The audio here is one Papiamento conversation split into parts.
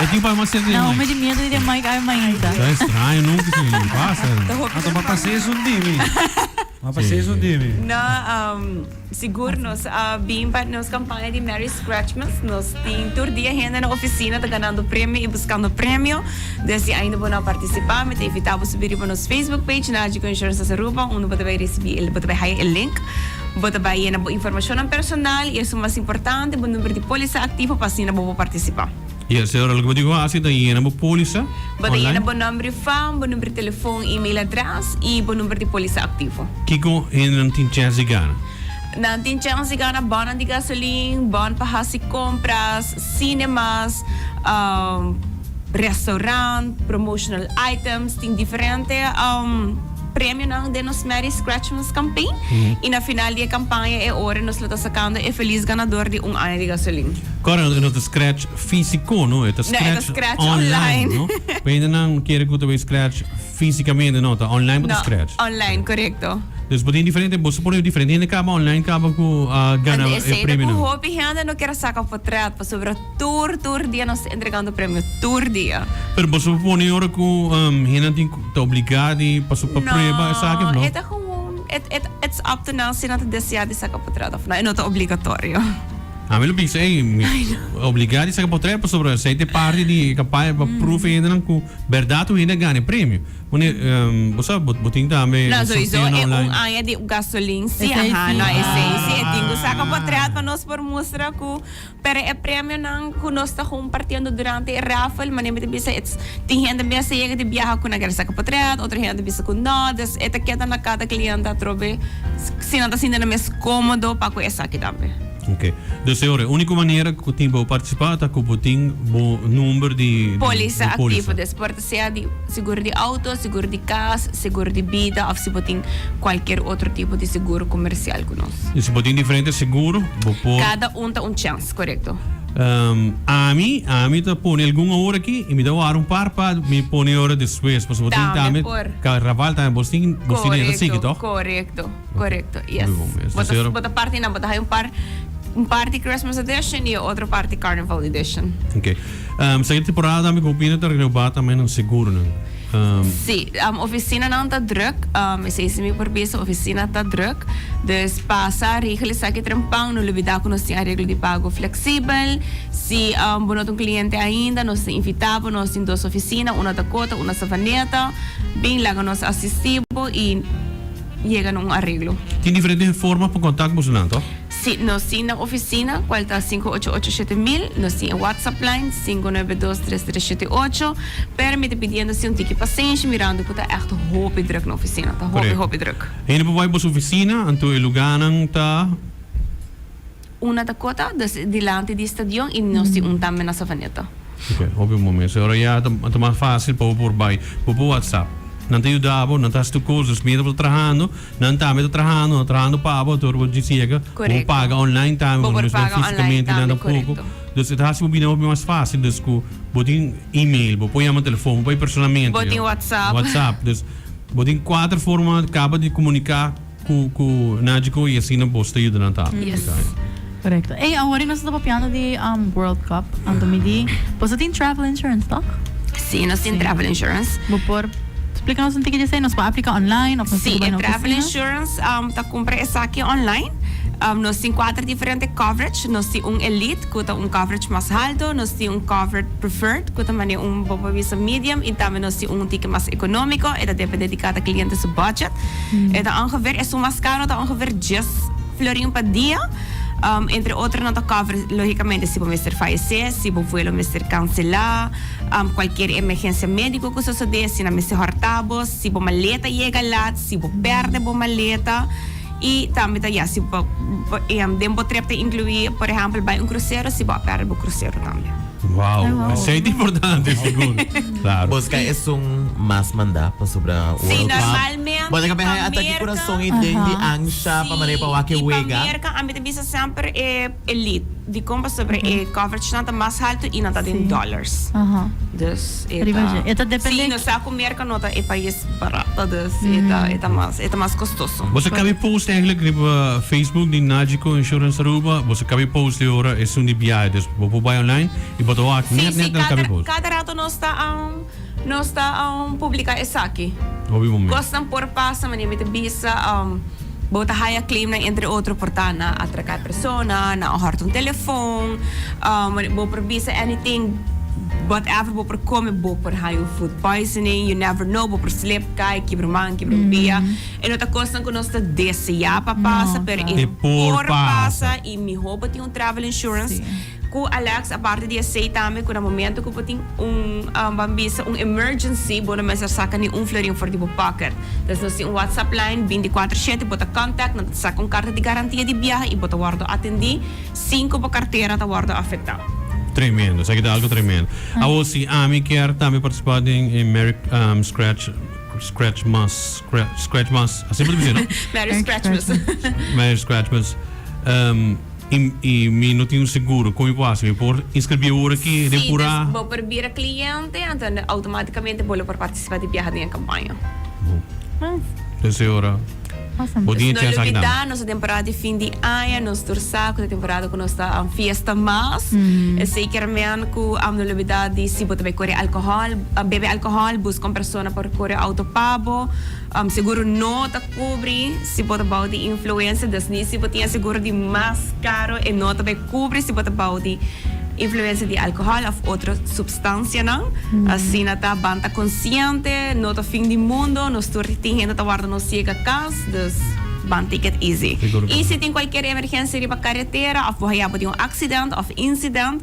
E tin pa mas cerca di Mike. Naomi tin miedo di den Mike ai mainta. Ta extraño no que si pasa. Ata pa pasé es un dimi. Pa pasé es un dimi. No um sigur nos a bin pa nos campaña di Merry Scratchmas. Nos tin tur dia hende na oficina ta ganando premio y buscando premio. Den si ainda bo no a participa mi ta invita bo subi riba nos Facebook page Nagico Insurance Aruba unda bo ta bay ricibi bo ta bay haya e link. Bo ta bai yena bo informashonnan personal i esun mas importante, bo number di polisa aktivo pa asina bo por partisipá. Yes, señor, loke bo tin ku hasi ta yena bo polisa online. Bo ta yena bo nòmber i fam, bo number di telefòn, email adrès i bo number di polisa aktivo. Kiko hendenan tin chèns di gana? Nan tin chèns di gana bònnan di gasolin, bòn pa hasi kompras, sinemas, restaurant, promotional items, tin diferente. premionan den nos Merry Scratchmas Campaign y na final di e campaña e ora nos lo ta sacando e feliz ganador di un aña di gasolin. Correcto, e no ta scratch fisico, no, e ta scratch online. No, e ta scratch online, no. Pa hendenan kere cu ta bay scratch fisicamente, no, ta online bo ta scratch. No, online, correcto. Dus bo tin diferente, bo supono e diferente hende caba online caba cu a gana e premionan. Ande e sey ta cu hopi hende no kier a saca potret pasobra. Tur tur dia nos ta entregando premio, tur dia. Pero boso por pone ora cu hende tin ta obliga di pasa pa prueba esaki of no? No, e ta gewoon, it's up to nan si nan ta desea di saca potret of no, e no ta obligatorio. Ami lo bisa ey, obliga di saca potret pasobra esey ta e parti di e campaña pa prove e hendenan cu berdad tur hende a gana e premio. Pone, bo sa, bo tin tambe un sorteo online. No, sowieso e un aña di gasolin si, ahan, no esey si, e tin cu saca potret pa nos por mustra cu. Pero e premionan cu nos ta compartiendo durante e raffle, manera mi ta bisa ets, tin hende mes a yega di biaha cu nan ker saca potret, otro hende ta bisa cu no, dus e ta keda na cada cliente atrobe si nan ta sinti nan mes comodo pa cu esaki tambe. Ok. Dus e ora, e unico manera cu tin pa bo participa ta cu bo tin bo number di. Poliza activo. sea di seguro di auto, seguro di cas, seguro di bida of si bo tin cualkier otro tipo di seguro comercial cu nos. Y si bo tin diferente seguro bo por. Cada un ta un chance, corecto. Ami, ami ta pone algun awor aki y mi ta wara un par pa mi pone ora despues, pasobra bo tin tambe. Tambe por. Carnaval tambe, bo tin, bo tin e ta sigui, Corecto, toch? corecto. Correcto, yes. Muy bon, yes. Bo ta, Tercero. bo ta parti nan, bo ta hay un par, un parti Christmas edition y e otro parti Carnival edition. Ok. Ehm, segundo temporada también con Pina te renová también en seguro, ¿no? Ehm, Sí, um, oficina nan ta druk. Um, is is mi por bisa, oficina ta druk. Dus pasa, regel esaki trempan. No lubida ku nos tin areglo di pago fleksibel. Si um, bo no ta un kliente ainda, nos ta invitá bo. Nos tin dos oficina, una ta Kota, una Savaneta. Bin laga nos asistí bo i. yega na un areglo. Tin diferente forma pa kontak boso nan to? Si, nos tin na ofisina kual ta sinku ocho ocho shete mil, nos tin e WhatsApp line sinku nuebe dos tres tres shete ocho, pero mi ta pidiendo si un tiki pasenshi mirando ku ta ègt hopi druk na ofisina, ta hopi hopi druk. Hende por bai boso ofisina, anto e luganan ta. Un a ta kota dus dilanti di stadion i nos tin un tambe na Savaneta. Ok, hopi un momento. So ora ya a ta mas facil pa bo por bai. Bo por whatsapp. Nan ta yuda bo, nan ta haci tur cosas. Mientras bo ta trahando, nan tambe ta trahando. Nan ta trahando pa bo, tur bo dici yega. Correcto. Bo por paga online tambe, Bo por mesmo paga online fisicamente tambe, nan ta poco. correcto. Dus e ta haci bo bida hopi mas facil. Dus cu bo tin email, bo por yama telefon, bo por bai personalmente. Bo tin whatsapp. Whatsapp. Dus bo tin cuater forma caba di comunica. Ku Naji Ko i asina bos ta yuda nan ta aplica. Yes. Korekto. Ey, awor nos ta papiando di World Cup anto mi di. Bos ta tin travel insurance, tok? Sí, nos tin travel insurance. Sí. Bo por splica nos un tiki di esei? Nos por aplica online of nos tin ke bai na oficina? Sí, e travel insurance ta cumpra esaki online. Nos tin cuater diferente coverage. Nos tin un elite. cu ta un coverage mas halto, nos tin un covered preferred cu ta mane un bo por bisa medium y tambe nos tin un un tiki mas economico, e ta depende di cada cliente su budget. E ta ongeveer, esun mas caro ta ongeveer dies florin pa dia. Entre otro nan ta cover logicamente si bo mester fayece, si bo vuelo mester cancela, cualkier emergencia medico cu sosode, si nan mester horta bo, si bo maleta yega laat, si bo perde bo maleta. Y tambe ta ya si bo den bo trip ta inclui por ehempel bay un crucero si bo a perde bo crucero tambe. Wow, esey ta importante sigur. Claro. Bo sca esun mas manda pasobra World Cup. Si normalmente pa Bo ta caba haya ataki curason y den di ancha pa manera pa wak e wega. Si pa Merca ami ta bisa semper e. Elite, dikon pasobra e coveragenan ta mas haltu i nan ta den dòlars. Dus e ta. Si, e ta dependé. Nos sa ku Merka no ta e pais barato, dus e ta e ta mas e ta mas kostoso. Boso kabe post enkele riba Facebook di Nagico Insurance Aruba, boso kabe post e ora esun di biahe, dus bo por bai online i bo ta wak nèt nèt nan kabe post. Kada rato nos ta. Nos ta publica esaki. Cosnan por pasa manera mi ta bisa, bo ta haya claimnan entre otro por ta na atraca e persona, na hohorta un telefon, bo por bisa anything, whatever bo por come bo por haya un food poisoning, you never know bo por slip, cay, kibra man, kibra un pia. E no ta cosnan cu nos ta desea pa pasa pero e por pasa y miho bo tin un travel insurance. Cu Alex, aparte di esey tambe cu na momento cu bo tin un, ban bisa, un emergency, bo no mester saca ni un florin for di bo pocket. Pues nos tin un WhatsApp line binticuatro shete, bo ta contact, nan ta saca un carta di garantia di biaha y bo ta wordo atendi sin cu bo cartera ta wordo afecta. Tremendo, esaki ta algo tremendo. Awor si ami kier tambe participa den e Merry Scratch, Scratchmas, Scratch, Scratchmas, asi bo ta bisa, no? Merry Scratchmas. Merry Scratchmas. I i mi no tin un seguro con mi por haci? Mi por inscribi ahora aki y den pura. Si bo por bira cliente entonces automaticamente bo lo por participa di biaha den e campaña. Bo Sey ora bo tin e chance aki tambe. Nos ta temporada di fin di aña, nos tur sa cu ta temporada cu nos ta fiesta mas. Esey kermen cu amo no olbida di si bo ta bay core alcohol, bebe alcohol, busca un persona por core auto pa bo. Um seguro no ta cubri si bo ta bao di influencia, dus ni si bo tin e seguro di mas caro e no ta bay cubri si bo ta bao di influencia di alcohol of otro substancianan. Asina ta, ban ta consciente, no ta fin di mundo, nos tur tin hende ta warda nos ciega cas, dus ban take it easy. Y si tin cualkier emergencia riba carretera of bo haya bo di un accident of incident,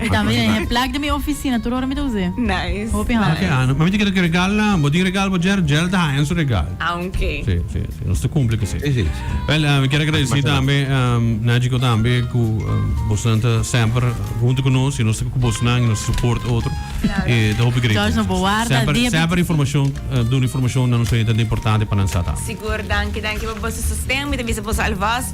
Mi tambe tin e plak den mi oficina tur ora mi ta us'e. Nice. Hopi hana. Hopi hana. Ma mi ta kere cu regal na bo. Tin regal bo Jerry? Jerry ta haña su regal. Ah, ok. Si, si, si. Nos ta cumpli cu si. Si, si. Wel, mi kier a agradeci tambe Nagico tambe cu bosnan ta semper hunto cu nos y nos ta cu bosnan y nos ta support otro. Claro. Y ta hopi great. George, nos bo warda dia bit. Semper, semper informacion, duna informacion na nos oyente ta importante pa nan sa tambe. Sigur. Danki, danki pa boso sosten. Mi ta bisa boso alvast.